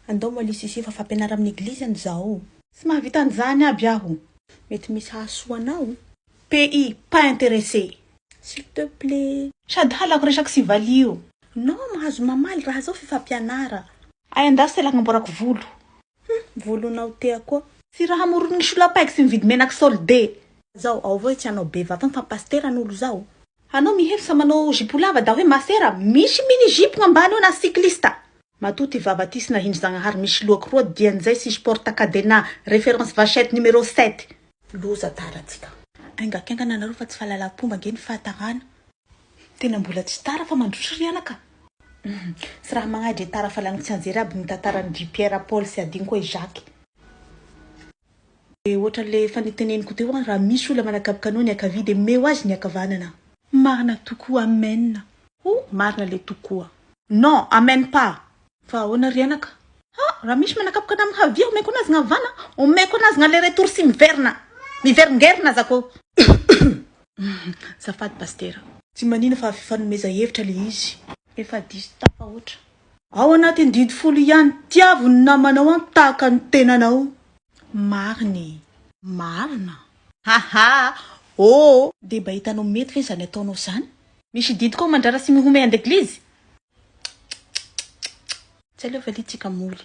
Andao Mali Sisi fa fampianara amin'ny eglizy an zao. Tsy mahavita an'izany aby aho. Mety misy hahasoa anao. PI pas intéressé. S'il te plait. Sady halako resaky sivali io. Non mahazo mamaly raha zao fifampianara. Ay andaso sela agnamboarako volo. Hum volonao tea koa. Tsy raha hamoron'ny solapaiky sy mividy menaky solde. Zao, ao avao i tsy anao bevava fa pasitera an'olo zao. Anao mihevitra manao jupe lava da hoe masera, misy mini jupe gnambany eo na cycliste. Matoa ty vavatisina hindry zagnahary misy lohako roa dian'izay sisy porte cadenas, reference vachette numéro sept. Loza tara tsika. Enga kengana nareo fa tsy fahalalam-pomba ange ny fahatarana. Tena mbola tsy tara fa mandroso ry anaka. Tsy raha magnahy dre tara fa lany tsianjery aby ny tantara ny dry Pierre, Paul sy Adinoko e Jacques. Dia ohatran'ilay efa niteneniko teo an, raha misy olona manakaboka anao ny ankavia dia meo azy ny ankavanana. Marina tokoa amen. Oh marina le tokoa. Non amen pas. Fa ahoana ry anaka. Ha! Raha misy manakaboka anà mihavia omeko anazy gna havana omeko anazy gna aller retour sy miverina miveringerina aza ko. Zafady Pasitera. Tsy manina fa fifanomeza hevitra le izy. Efa diso tafahoatra. Ao anatin'ny didy folo ihany tiavo ny namanao an tahaka ny tenanao marina ee. Marina. Haha oo. Dia mba hitanao mety ve izany ataonao izany? Misy didy koa mandrara sy mihomehy andeglizy? Tsy aleo valiantsika moly.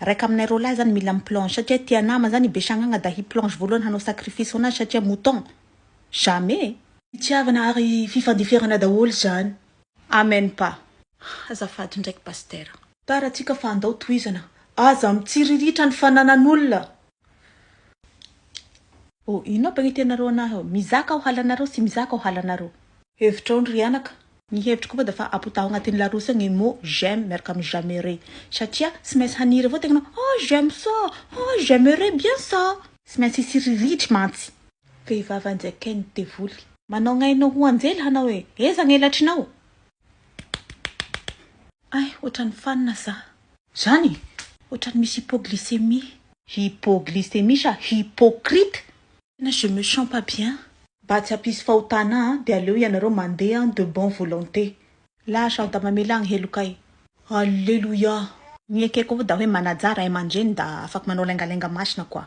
Raika aminay roalahy zany mila mi plange satria tia nama zany i besagnagna da hi plange voalohany hanao sacrifice ho anazy satria mouton jamais. Fitiavana ary fifandeferana daholo zany. Amen pa. Azafady ndraiky Pastera. Tara atsika fa andao tohizana. Aza mitsiriritra ny fananan'olona. Oh inona aby ny tianareo anahy oh? Mizaka aho halanareo sy mizaka aho halanareo. Hevitrao ndry anaka. Ny hevitro koa da fa apotaho agnatin'ny larousse agny mot j'aime miaraka amin'ny j'aimerai satria tsy maintsy haniry avao tegna anao ah j'aime ça ah j'aimerai bien ça. Tsy maintsy hisy ririhitry mantsy. Vehivavy anjakain'ny devoly. Manao gnainao ho anjely hanao e! Eza gnelatrinao? Ay, ohatran'ny fanina za. Zany e! Ohatran'ny misy hypoglycémie. Hypoglycémie sa hypocrite? Tena je me sens pas bien. Mba tsy hampisy fahotana ahy dia aleo ianareo mandeha an de bonne volonté. Lasa aho da mamela ny helokay. Alléluia. Ny ekeko vo da hoe manaja ray aman-dreny da afaka manao laingalenga masina quoi.